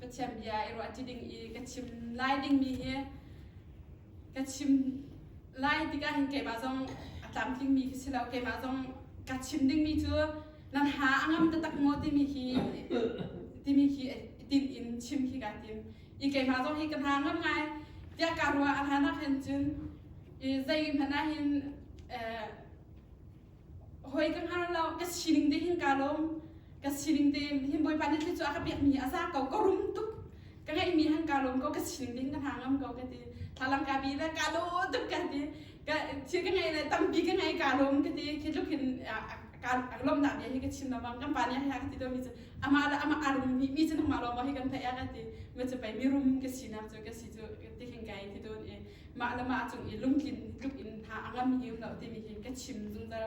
Pathian bia i ruah ti ding i ka chim lai dingmi hi ka chim lai tikah hin keimah zong a tlamtlingmi khi si lo keimah zong ka chim dingmi cu nan ha a ngam taktak maw timi hi timi khi tin in chim khi ka tim i keimah zong hi ka hna ngam ngai tiah ka ruah a hlan ah khan cun i zei hmanh ah hin hoi ka hngar lo ka sining te hin ka lom ka sining te hin bawipa ni thli cu a ka pek mi a za ko ka rum tuk ka ngei mi han ka lom ko ka sining te hin ka hna ngam ko ka ti thalang ka bi le ka lo tuk ka ti ka thil ka ngei le tampi ka ngei ka lom ka ti khi tluk hin ka lom na bia hi ka chim lamang kan pa ni ha ka ti to mi cu ama le ama arum mi mi cu nangma lom hi kan thai a ka ti ma chu pai mi rum ka sinak chu ka si chu ti hin kai thi don e mah le mah cung i lungtlin tluk in hna a ngam hiu lo timi hi ka chim zungzal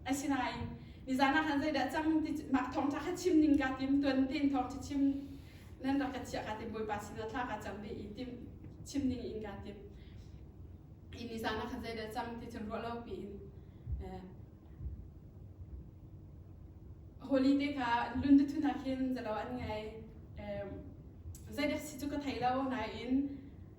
asinain nizan ah han zeidah cang ti mah thawng tha kha chim ning ka tim tuan tin thawng tha chim nan rak ka chia ka tim bawipa sinah thla ka cam ve i tim chim ning in ka tim i nizan ah khan zeidah cang ti cun ruah lo piin holiday ka lundu thuna khin zalo an ngai zeidak si chu ka thei lo nain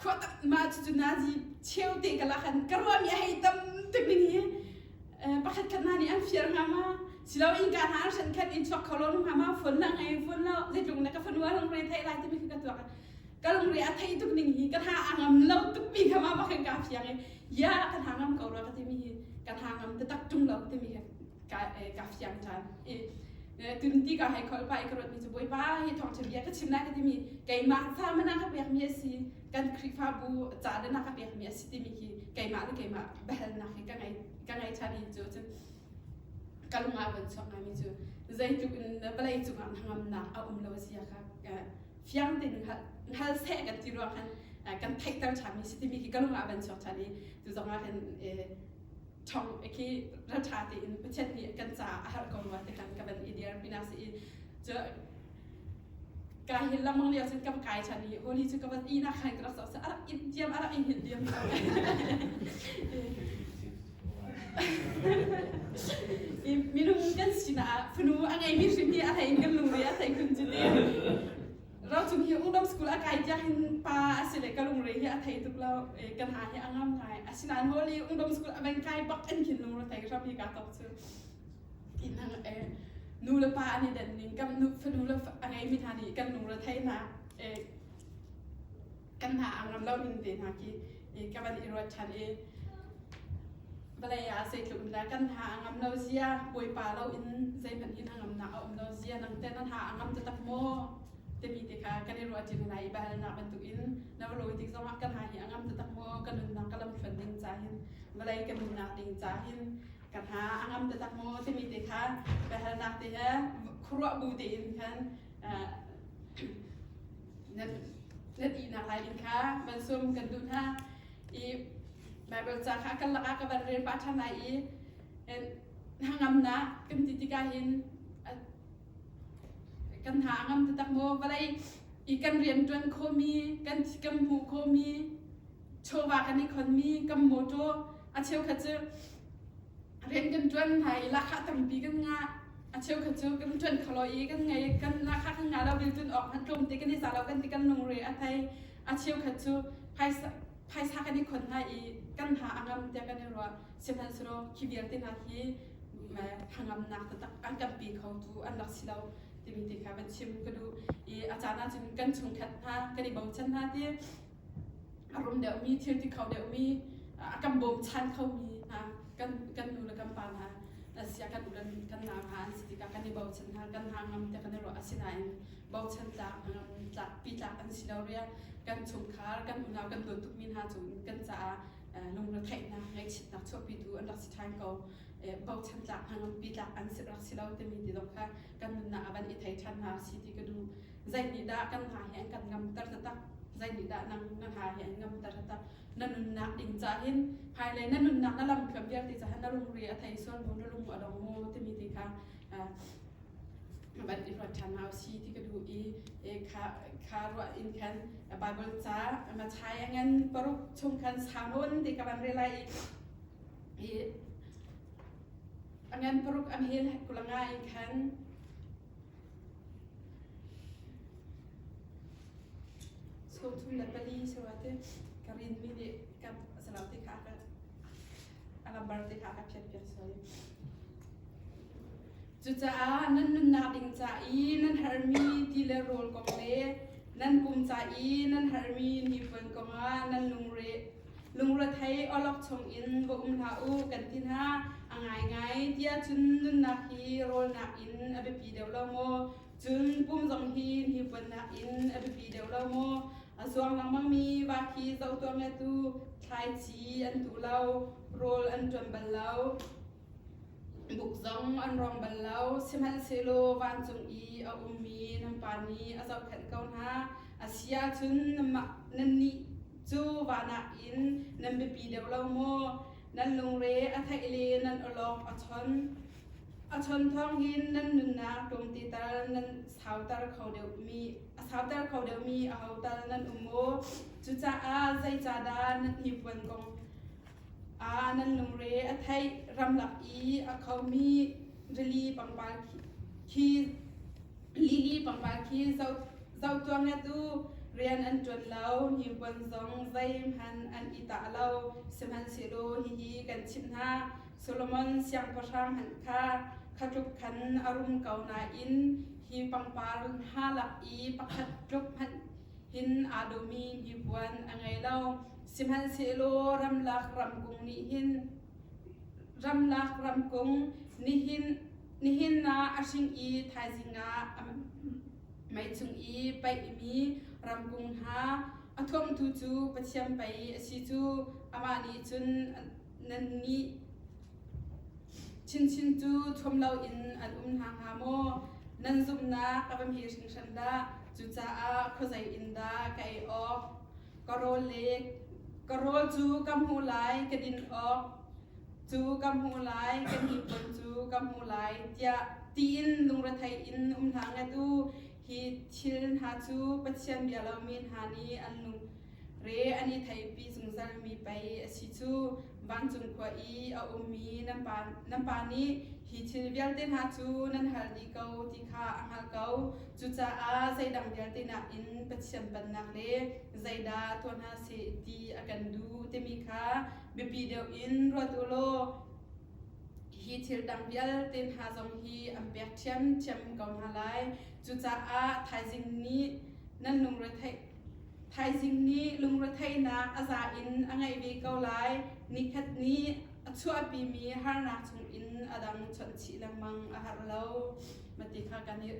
khua tak ma cu cu nazi cheu te ka la khan ka ruami a hei tam tuk in hi pakhat khat na nih an fiar nga ma silo in ka na shan khat in chuak kho lo ma ma phone lang ai phone lo zeitlung na ka phone wa lung re thai lai te mi ka tuak ka lung re a thei tuk ning hi ka tha angam lo tuk mi ka ma ba kan ka phiang ya ka tha ngam ko ro ka ti mi hi ka tha ngam te tak tung lo te mi ka ka fiang tan i tun ti ka hai khol pa i ka rot mi chu boi pa hi thong che bia ka chim lai ka ti mi keimah fa mana ka pek mi asi kan khrifa bu cha da na ka pek mi asi ti mi hi keimah le keimah behel na hi ka ngai ka ngai cha ni chu cun ka lunga von sok ngai mi chu zeitluk in na palai cungah hangam na a um lo sia ka fiang tin hal se kan ti ruang han kan theikter cha mi si ti mi hi ka lunga ban sok cha ni tu zong ah kan ṭhawng khi ra ṭha tein Pathian nih kan caah a harh ko rua ti khan ka van i dir pina si i cu ka hi lamang lio cun kam kai chan i holy cu ka van i na khan ka rak sa arak in tiam arak in hil diam i minung kan sinah funu a ngei mi hrim hi a thei kan lungri a thei kun cu ti rocung hi udom school a kai tiang hin pa a si le ka lungre hi a thei tuk lo kan ha hi a ngam ngai asinain holi udom school a bang kai bak in hin lungre thei ra pi ka tok chu inang e nu le pa ani den ning kam nu fanu le a ngei mi hna nih kan lungre thei na e kan hna ang ram lo in te hna ki i ka van i ruat than i vale a sei tluk le kan ha angam lo zia boipa lo in zeiman in angam na a um lo zia nang te nan ha angam te tak mo temi te kha kan i ruat jin lai i bahal na bantuk in na lo tik zong kan ha hi angam te tak mo kan nun na kalam thon ding cha hin vale kan nun na ding cha hin kan ha angam te tak mo temi te kha bahal na te he khruwa bu te in khan na ti na kai in kha man sum kan du hna i bible ca kha kan laka ka ban rel pa than ai i hangam na kan ti tika hin kan ha ngam te tak mo balai i kan rian tuan khomi kan kan mu khomi chowa kan i khon mi kam moto a cheu kha chu rian kan ṭuan hna i lahkhah tampi kan ngah a cheukhat cu kan ṭuan kholo i kan ngei kan lahkhah kan ngah lo biltun awk hmanh tlawm te kan i za lo kan ti kan lungre a thei a cheukhat cu phaisa phaisa kan i khon hna i kan hna a ngam tiah kan i ruah sihmanhsehlaw khi vialte hna hi hangamnak tatak an tampi kho tu an rak si lo timi ti kha kan chim ka duh i a caan ahcun kan chungkhat hna kan i bochan hna ti a rum deuhmi, thil ti kho deuhmi, a kan bawmchan khomi hna, kan, kan nu le kan pa hna, sia kan u le kan nau hna an si tikah kan i bochan hna, kan hna ngam te kan i ruah. Asinain bochan tlak, tlak, pi tlak an si lo ria. Kan chungkhar, kan unau, kan dawt tukmi hna cung kan caah lungretheih hna, ngaihchitnak chuahpitu an rak si ṭhan ko. Bochan tlak hna, ngampi tlak an si rak si lo timi ti zong kha kan nunnak ah van i thei ṭhan hna si ti ka duh. Zeinihdah kan hna hi an kan ngamter taktak? Zeinihdah nang na hna hi an ngamter taktak? Na nunnak ding cahin hmailei na nunnak na lamthluan vialte cahan na lungri a thei suan bu na lung a dong mu timi ti kha van i ruat ṭhan hna usi ti ka duh i kha kha ruah in khan Bible ca Matthai ngan paruk chung khan samun ti ka van relai i ngan paruk am hin kulanga in khan Chungthum le pali sura te ka rin mi nih kap a salau ti kha ka a lambar ti kha ka phiat piak soi. Cucaah nan nunnak ding ca i nan harmi ti le rawl kong le nan kum ca i nan harmi ni puan kongah nan lungre Lungrethei awlok chungin va um hlah u kan ti hna. A ngaingai tiah cun nunnak hi rawlnak in a biapi deuh lo maw? Cun pum zong hi hnipuannak in a biapi deuh lo maw? A zuang lengmangmi va khi zoh tuah nge tu thlaici an tu lo, rawl an ṭuan bal lo, buk zong an rawng bal lo, sihmanhsehlaw vancung i a ummi nan pa nih a zohkhenh ko hna. A si ahcun nannih Cu vahnak in nan biapi deuh lo maw? Nan lungre a theih le nan awlawk a chon. A chon thawng hin nan nunnak ṭumtital nan sauter kho deuhmi a sauter kho deuhmi aho tal nan um maw? Cucaah zeicahdah na hnipuan kong Ah nan lungre a theih ramlak i a khomi rili pangpar khi lili pangpar khi zoh zoh tuang le tu rian an ṭuan lo hnipuan zong zeihmanh an i tah lo sihmanhsehlaw hihi kan chimh hna Solomon siangpahrang hmanh kha kha tluk khan a rum ko nain hi pangpar ha lak i pakhat tluk hmanh hin aa duhmi hnipuan a ngei lo. Sihmanhsehlaw ramlak ramkung nih hin ramlak ramkung nihin nihin na a hring i thaizing ah meichung i paihmi ramkung hna a thuamtu cu Pathian pei a si cu amah nih cun nannih chinchin cu thuam loin an um hna hnga maw? Nan zumhnak a va hme hringhran dah! Cucaah khuazei in dah ka ei awk? Ka rawl le ka rawl cu ka hmu lai, ka din awk cu ka hmu lai, ka hnipon cu ka hmu lai, tiah tiin lungrethei in um hna nget u. Hi thil hna cu Pathian bia lomi hna nih an lung Re an i theipi zungzalmi pei a si cu. Vancung khua i a ummi nan pa nih hi thil vialte hna cu nan hal dih ko ti kha a hngalh ko. Cucaah zeidang vialte nakin Pathian pannak le zeidah tuah hna seh ti a kan duh timi kha biapi deuh in ruat u law hi thil dang vialte hna zong hi an pek ṭhiamṭhiam ko hna lai. Cucaah thaizing nih nan lungretheih Thaizing nih lungretheihnak a za in a ngeih ve ko lai. Nikhat nih a chuahpimi harnak chungin a dang chawnhchih lengmang a har lo. Ma ti kha kan i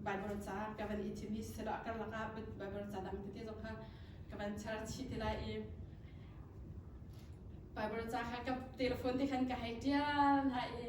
Baibal ca ka van i thim hi silo a karlak ah Baibal ca dang tete zong kha ka van char chih ti lai i Baibal ca kha ka telephone te khan ka hei tial hna i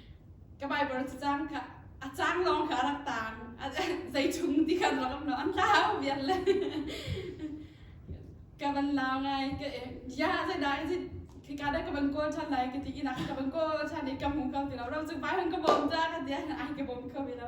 ka Baibal cu caan kha a caan lawng kha a rak taan zeichung ti khan rangam lo an hlau vian le ka van la ngai ka ya zai dai zai khi ka da ka van kol chan lai ka ti inak ka van kol chan i ka hmu kho ti lo ro chung pai hang ka bom ta ka dia ai ka bom kho ve lo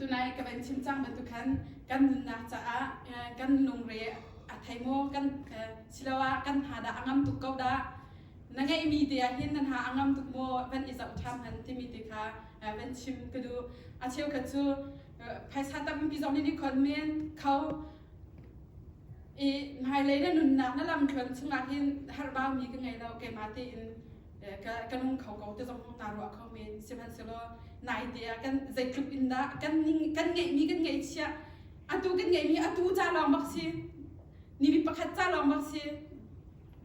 Tunai ka van chim cang bantuk khan kan nunnak caah kan lungre a thei maw kan siloah kan ha dah a ngam tuk ko dah na ngeihmi te ah hin nan ha a ngam tuk maw van i zoh ṭhan han timi te kha van chim ka duh a cheukhat cu phaisa tampi zong nih khon men kho i hmailei na nunnak na lam thluan chungah hin harhbaumi ka ngei lo keimah tein kan nung kho ko te zong naa ruah kho men sihmanhsehlaw nai te ah kan zeitluk in dah kan kan ngeihmi kan ngeihchiah atu kan ngeihmi atu ca lawng bak si ni mi pakhat ca lawng bak si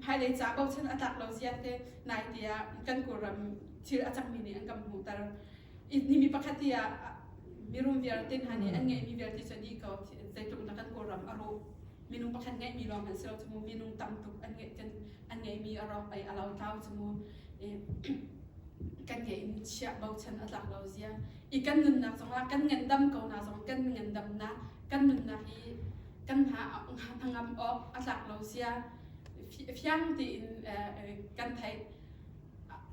hmailei ca bochan a tlak lo ziate nai te ah kan kawlram thil a cangmi nih an kan hmuhter ni mi pakhat ti ah mirum vialte hna nih an ngeihmi vialte cu ni ko zeitluk na kan kawlram a ruh minung pakhat ngeihmi lawng kan si lo cu mu minung tam tuk an ngeih kan an ngeihmi a rawk pei a lo tlau cu mu kan nge in chiah bochan a tlak lo zia i kan nunnak zong la kan ngandam ko na zong kan ngandam na kan nunnak hi kan ha angam awk a tlak lo zia fiang tiin kan thei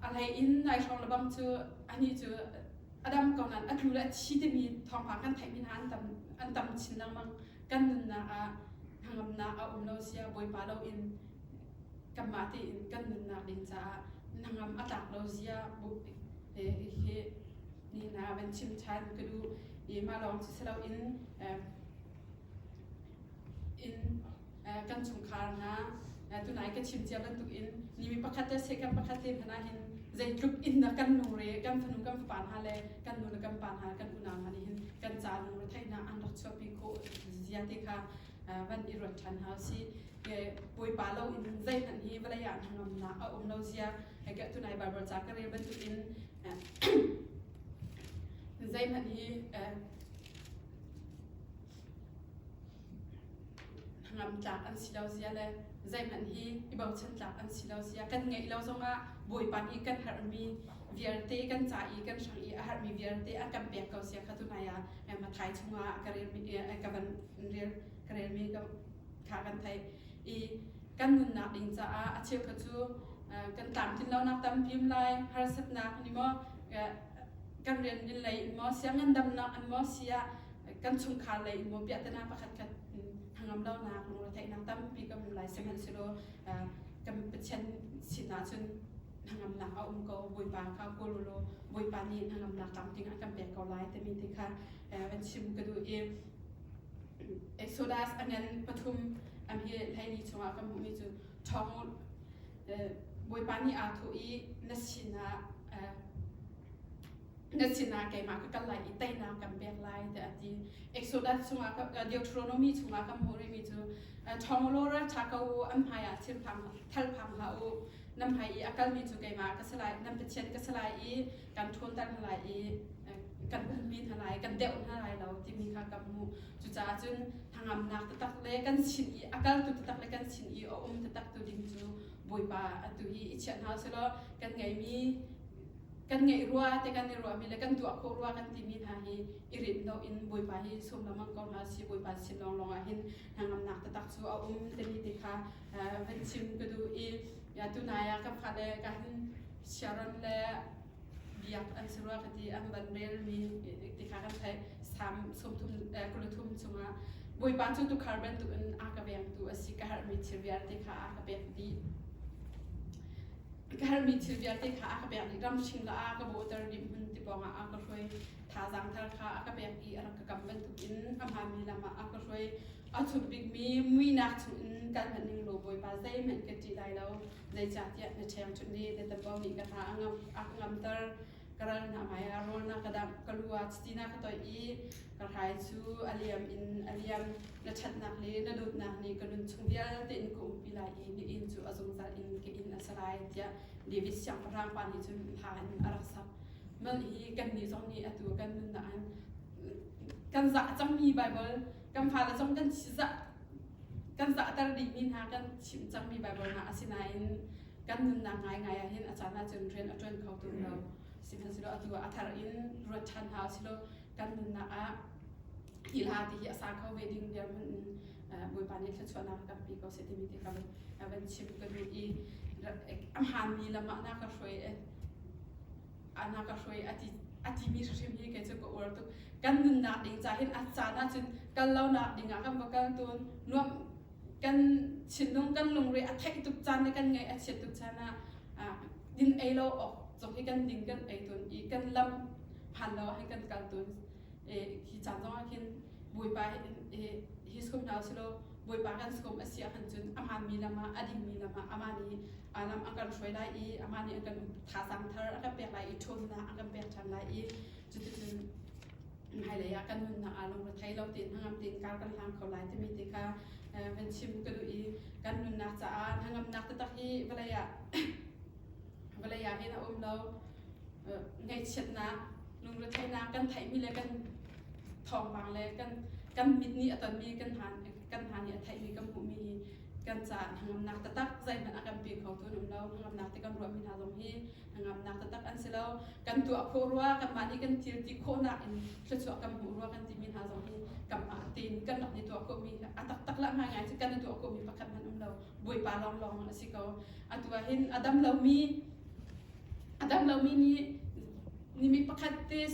alai in nai hrong lebang cu ani cu adam ko nan a tlu le thi timi thawngpang kan theih min an tam an tam chin lengmang kan nunnak ah hnangamnak a um lo sia Bawipa loin kanmah tein kan nunnak ding caah hnangam a tlak lo zia bu he hi ni na van chim than ka du i ma lawng ci selo in in kan chungkhar hna tunai ka chim cia bantuk in ni mi pakhat te se kan pakhat te hna hin zeitluk in na kan nung re kan fanu kan fapa hna le kan nu le kan pa hna kan unau hna nih hin kan ca retheihnak an rak chuahpi khawh ziate kha van i ruat ṭhan hna si bawipa lo in zeihmanh hi vawlei ah hnangamnak a um lo zia ke tunai bible ca ka rel bantukin zeihmanh hi hnangam tlak an si lo zia le zeihmanh hi i bochan tlak an si lo zia kan ngeih lo zongah bawipa nih kan harmi vialte kan ca i kan hrang i a harmi vialte a kan pek ko sia kha tunai ah mathai chungah ka rel ka van rel ka relmi kha kan thei i kan nunnak ding caah a cheu kha cu kan tlamtlin lonak tam pim lai harsatnak ni maw kan rian in lei in maw sia ngandamnak in maw sia kan chungkhar lei in maw piahtana pakhat khat thangam lonak lungre theihnak tampi kan um lai sehman silo kan pathian sinah cun hnangamnak a um ko bawipa kha kolulo bawipa nih hnangamnak tam ding a kan pek ko lai timi te kha van chim ka duh i exodus angen pathum am hi leini chungah kan hmuhmi cu ṭhawng u. Bawipa nih aa thawh i, na sinah na sinah keimah ka kal lai i teinak kan pek lai tiah a ti. Exodus chungah Deuteronomy chungah kan hmuh rihmi cu ṭhawng u lawra ṭha ko u an hmaiah thil phang thal phang hlah u. Nan hmai i a kalmi cu keimah ka si lai, nan pathian ka si lai i kan ṭhawtter hna lai i kan hmanmi hna lai kan deuh hna lai lo timi kha ka hmuh cucaah cun hnangamnak taktak le kan sin i a kaltu taktak le kan sin i a um taktak tu ding cu bawipa a tu hi i chiah hna selaw kan ngeimi kan ngeih rua te kan i ruahmi le kan tuah khawh rua kan timi hna hi i rit lo in bawipa hi sum lamang ko hna si bawipa sin lawnglawng ah hin hnangamnak taktak cu a um te ni te kha van chim ka duh i ya tu nai ah ka phat le ka han sharon le biak an si rua ka ti an van rel mi ti kha kan thai sam sum thum kulu thum chunga bawipa cu tu khar ban tu in a ka veng tu asi ka har mi thil vial te kha a ka pek di ka har mi thil vial te kha a ka pek di ram shing la a ka boter di mun ti ponga a ka hroi tha zang thar kha a ka pek i a ka kam ban tu in a ma mi lama a ka hroi A thuk bikmi muinak chungin kan hman ning lo Bawipa zeihmanh ka ṭih lai lo, zeicahtiah na ṭheng ṭun i na tambau nih ka hna a ka ngamter. Ka ral hna hmai ah rawl na ka damh, ka lu ah chiti na ka toih i ka hrai cu a liam in a liam. Na ṭhatnak le na dawtnak nih ka nun chung vialte in ka umpi lai i na inn cu a zungzal in ka inn a si lai, tiah David siangpahrang pa nih cun hla in a rak sak. Man hi kannih zong nih atu kan nunnak kan zah cangmi Baibal kan fale zong kan zah kan zahter dihmi hna kan chim cangmi Baibal hna asinain kan nunnak ngaingai ah hin a caan ahcun rian a ṭuan kho tung lo sihmanhsehlaw atu ah a thar in ruat ṭhan hna usilaw kan nunnak ah thilha ti hi a sa kho ve ding dirhmun in Bawipa nih thluachuahnak a pe ko seh timi ti ka van chim ka duh i a hmaanmi lam ah na ka hruai ana ka hruai a ti a timi hrim hi kei cu ka uar tuk kan nunnak ding ca hin a caan ah cun kal lonak ding ah kan va kal tun nuam kan thinlung kan lungre a theih tuk caan le kan ngaih a chiat tuk caan ah din ei lo awk cok hi kan ding kan ei tun i kan lam phan lo ah kan kal tun hi caan zong ah khin bawipa hi sum hna silo bawipa kan sum a si ah khan cun a hmaan mi lam ah a ding mi lam ah a man i a lam a kan hruai lai i amah nih a kan thazang thar a kan pek lai i ṭhawnnak a kan pek ṭhan lai i cuticun hmailei ah kan nunnak ah lungrethei lo tein hnangam tein kar kan hlang kho lai timi ti kha van chim ka duh i kan nunnak caah hnangamnak taktak hi vawlei ah vawlei ah hin a um lo ngaihchiatnak lungretheinak kan theihmi le kan thawngpang le kan kan mit nih a tonmi kan hmaan kan hna nih a theihmi kan hmuhmi hi kan caah hnangamnak taktak zeihmanh a kan pe kho tu an um lo hnangamnak ti kan ruahmi hna zong hi hnangamnak taktak an si lo kan tuah khawh rua kanmah nih kan thil ti khawhnak in thluachuah kan hmuh rua kan timi hna zong hi kamah tein kan rak ni tuah khawhmi a taktak lah ngai ngai cu kan i tuah khawhmi pakhat hmanh um lo bawipa lawng lawng a si ko atu ah hin a dam lomi A dam lomi nih ni mi pakhat te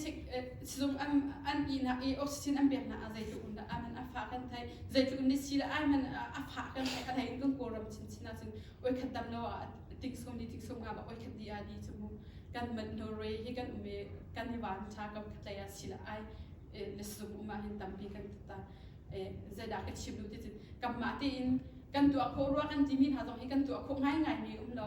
sizung an an ihnak i oxygen an peknak ah zeitluk in dah aman a fa kan thai zeitluk in si le aiman a fa kan thai kan hai in kan kawlram chinchin ah cun oi khat dam lo ah tiksum di tiksum nga ba oi khat di a di chu mu kan man no roi hi kan ume kan ni wan cha kam khatlai a si la ai na sizung uma hin tampi kan ta zaidah ka chim lu ti cun kam ma te in kan tua kho rua kan ti min ha zong hi kan tua kho ngai ngai mi um lo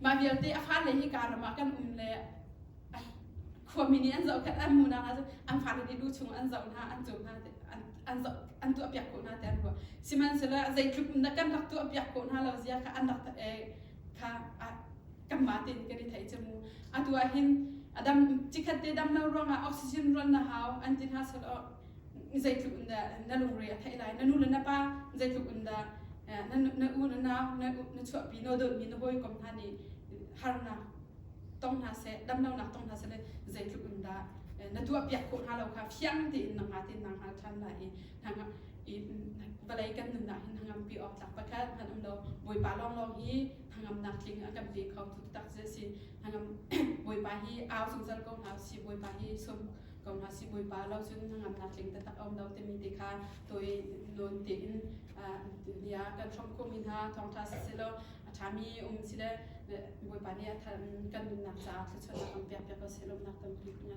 Mah vialte a fale hi karam ah kan um le khuami nih an zoh khat an mu nak ahcun an fale nih lu chung an zoh hna an cum hna an zoh an tuah piak khawh hna te an ruah sihmanhsehlaw zeitluk kan rak tuah piak khawh hna lo zia kha an rak kha kan ma tein kan i thei cu mu atu ah hin a dam cikhat te dam lo ruangah oxygen rual na hau an ti hna sal zeitluk in dah na lungre a theih lai na nu le na pa zeitluk in dah na na u na nau na na chuahpi no dolmi na hawi kom hna nih harnak tong hna seh damlonak tong hna seh le zeitluk in dah na tuahpiak khawh hna lo kha fiang tein na hnga tein na hngal ṭhan lai i i vawlei kan nunnak hin hnangampi awk tlak pakhat hman um lo bawipa lawnglawng hi hnangamnak tling a kan pe kho tu tak si hnangam bawipa hi au zungzal ko hna si bawipa hi sum ko hna sibawipa lo cun hnangamnak tling taktak a um lo timi te kha tawi nawn tein bia kan hrawm khawhmi hna thawngtha siselaw a ṭhami um sile bawipa nih kan nunnak caah thluachuahnak kan pekpiak ko seh lawmnak kan pek hna.